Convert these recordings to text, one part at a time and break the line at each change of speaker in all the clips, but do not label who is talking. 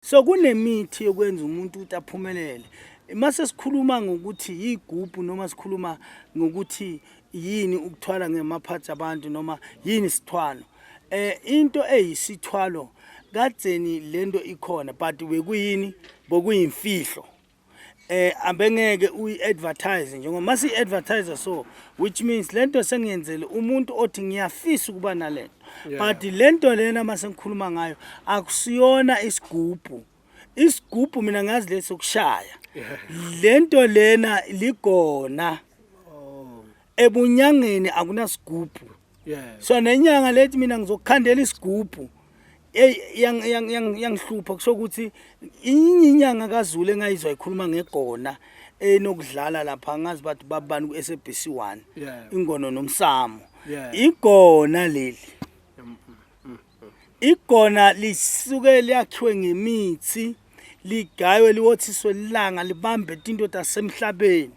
so kunemithi yokwenza umuntu ukuthi aphumelele mase sikhuluma ngokuthi yigubhu noma sikhuluma ngokuthi yini ukuthwala ngemaphathi abantu noma yini sithwalo eh into eyisithwalo kadzeni lento ikhona but bekuyini bokuyimfihlo eh abengeke uyi-advertise njengoba masi advertise so which means lento sengiyenzele umuntu othi ngiyafisa ukuba nalento but lento lena mase ngikhuluma ngayo akusiyona isigubhu isigubhu mina ngazi leso kushaya lento lena ligona oh. ebunyangeni akunasigubhu yeah. so nenyanga lethi mina ngizokukhandela isigubhu yangihlupha kusho ukuthi inye inyanga kazulu engayizwa ikhuluma ngegona enokudlala lapha ngazi bathi babani ku-sabc one ingono nomsamo igona leli Igona lisuke liyakhiwe ngemithi ligaywe liwothiswe ilanga libambe into tasemhlabeni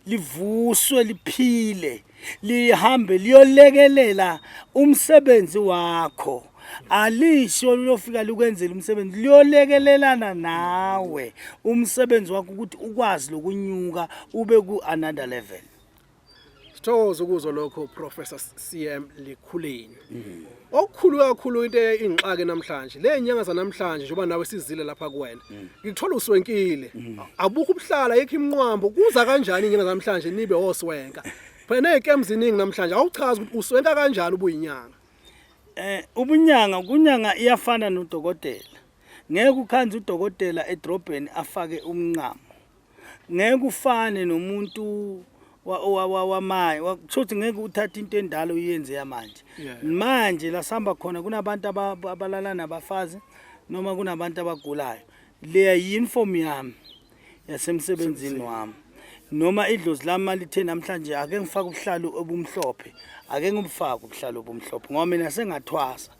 livuswe liphile lihambe liyolekelela umsebenzi wakho alisho liyofika likwenzela umsebenzi liyolekelelana nawe umsebenzi wakho ukuthi ukwazi lokunyuka ube ku another level Sithokoza
ukuzwa lokho Professor CM Likhuleni. Mm. Okukhulu kakhulu into eyingxaki namhlanje. Le nyanga zanamhlanje njengoba nawe sizile lapha kuwena. Mm. Ngikuthola uswenkile. Mm. Abukho ubuhlala yekho imnqwambo. Kuza kanjani inyanga namhlanje nibe oswenka? Phela nezikem ziningi namhlanje. Awuchazi ukuthi uswenka kanjani ubuyinyanga. Eh ubunyanga
kunyanga iyafana nodokotela. Ngeke ukhanze udokotela edrobheni afake umnqamo. ngeke ufane nomuntu wamanje kusho ukuthi ngeke uthathe into endala uyenze yamanje manje la sihamba khona kunabantu abalala nabafazi noma kunabantu abagulayo leya yi-uniform yami yasemsebenzini wami noma idlozi lami malithe namhlanje ake ngifake ubuhlalu obumhlophe ake ngibufake ubuhlalu obumhlophe ngoba mina sengathwasa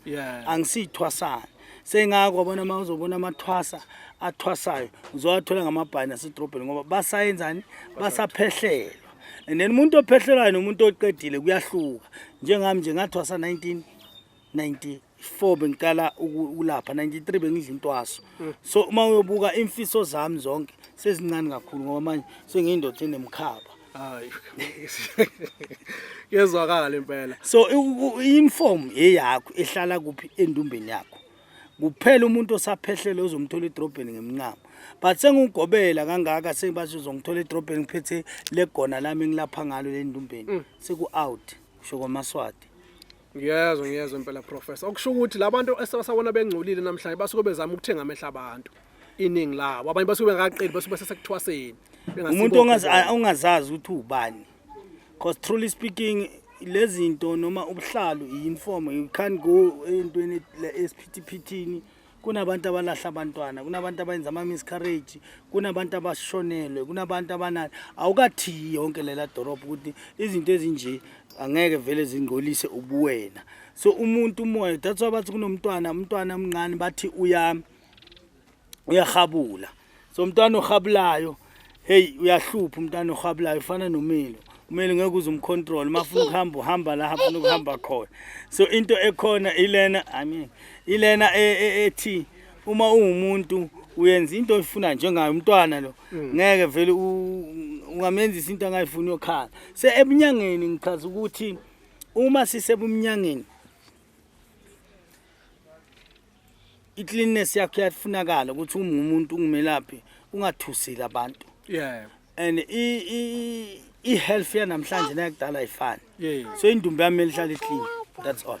angisiyithwasana sengako wabona uma uzobona amathwasa athwasayo uzowathola ngamabhani asedrobheni ngoba basayenzani basaphehlelwa and then umuntu ophehlelwayo nomuntu oqedile kuyahluka njengami nje ngathwasa 19 94 bengiqala ukulapha 93 bengidla intwaso mm. so uma uyobuka imfiso zami zonke sezincane kakhulu ngoba manje sengiyindoda enemkhaba
hayi yezwakala impela so
inform eyakho ehlala kuphi endumbeni yakho kuphela umuntu osaphehlele uzomthola edrobheni ngemncamo but sengugobela kangaka sengibathi uzongithola edrobheni ngiphethe legona lami ngilapha ngalo lendumbeni mm. seku out kusho kwamaswati Ngiyezwa
ngiyezwa impela professor. Okusho ukuthi labantu esebasabona bengcolile namhlanje basuke bezama ukuthenga amehla abantu. Iningi labo abanye basuke bengaqeli basuke besesekuthwaseni. Umuntu ongazi
ongazazi ukuthi ubani. Cause truly speaking lezinto noma ubuhlalu iinform you can't go entweni esiphithiphithini kunabantu abalahla abantwana kunabantu abayenza ama-miscarrage kunabantu abashonelwe kunabantu abanani awukathiyi yonke lela dolobha ukuthi izinto ezinje angeke vele zingcolise ubuwena so umuntu umoya that's why bathi kunomntwana umntwana omncane bathi uya uyahabula so umntwana ohabulayo hey uyahlupha umntana ohabulayo ufana nomilo kumele ngeke uze umcontrol uma ufuna ukuhamba uhamba la hafuna ukuhamba khona so into ekhona ilena i mean ilena e, e, ethi uma ungumuntu uyenza into oyifuna njengayo umntwana lo mm. ngeke vele ungamenzisa into angayifuni yokhala se ebunyangeni ngichaza ukuthi uma sisebumnyangeni i-cleanness yakho iyafunakala ukuthi uma umuntu ungumelaphi ungathusile abantu yeah and i-health yanamhlanje nayakudala ayifani so indumba yami elihlala i-clean that's all